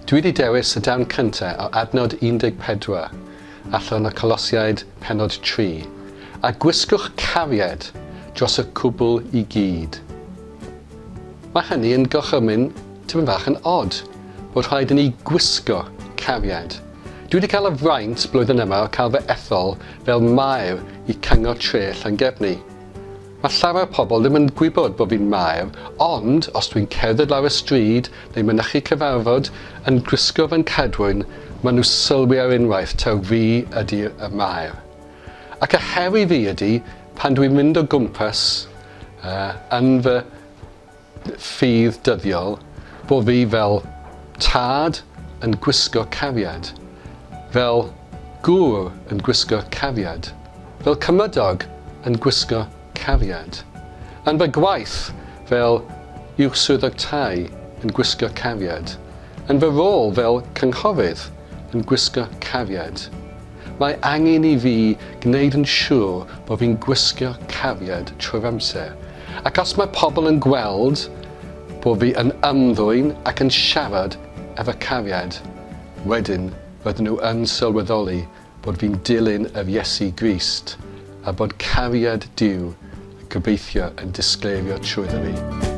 Dwi wedi dewis y darn cyntaf o adnod 14, allan o Colosiaid pennod 3, a gwisgwch cariad dros y cwbl i gyd. Mae hynny yn gorchymyn tipyn bach yn od, bod rhaid i ni gwisgo cariad Dwi wedi cael y fraint blwyddyn yma o cael fy ethol fel Maer i Cyngor Tre Llangefni. Mae llawer pobl ddim yn gwybod bod fi'n Maer, ond os dwi'n cerdded lawr y stryd neu mynychu cyfarfod yn gwisgo fy nghadwyn, maen nhw sylwi ar unwaith taw fi ydi'r y Maer. Ac y her i fi ydi, pan dwi'n mynd o gwmpas yy yn fy ffydd dyddiol bo fi fel tad yn gwisgo cariad, fel gŵr yn gwisgo cariad, fel cymydog yn gwisgo cariad, yn fy gwaith fel Uwch Swyddog Tai yn gwisgo cariad, yn fy rôl fel cynghorydd yn gwisgo cariad. Mae angen i fi gwneud yn siwr bod fi'n gwisgo cariad trwy'r amser, ac os mae pobl yn gweld bod fi yn ymddwyn ac yn siarad efo cariad, wedyn fydden nhw yn sylweddoli bod fi'n dilyn yr Iesu Grist, a bod cariad Duw, gobeithio, yn disgleirio trwyddo fi.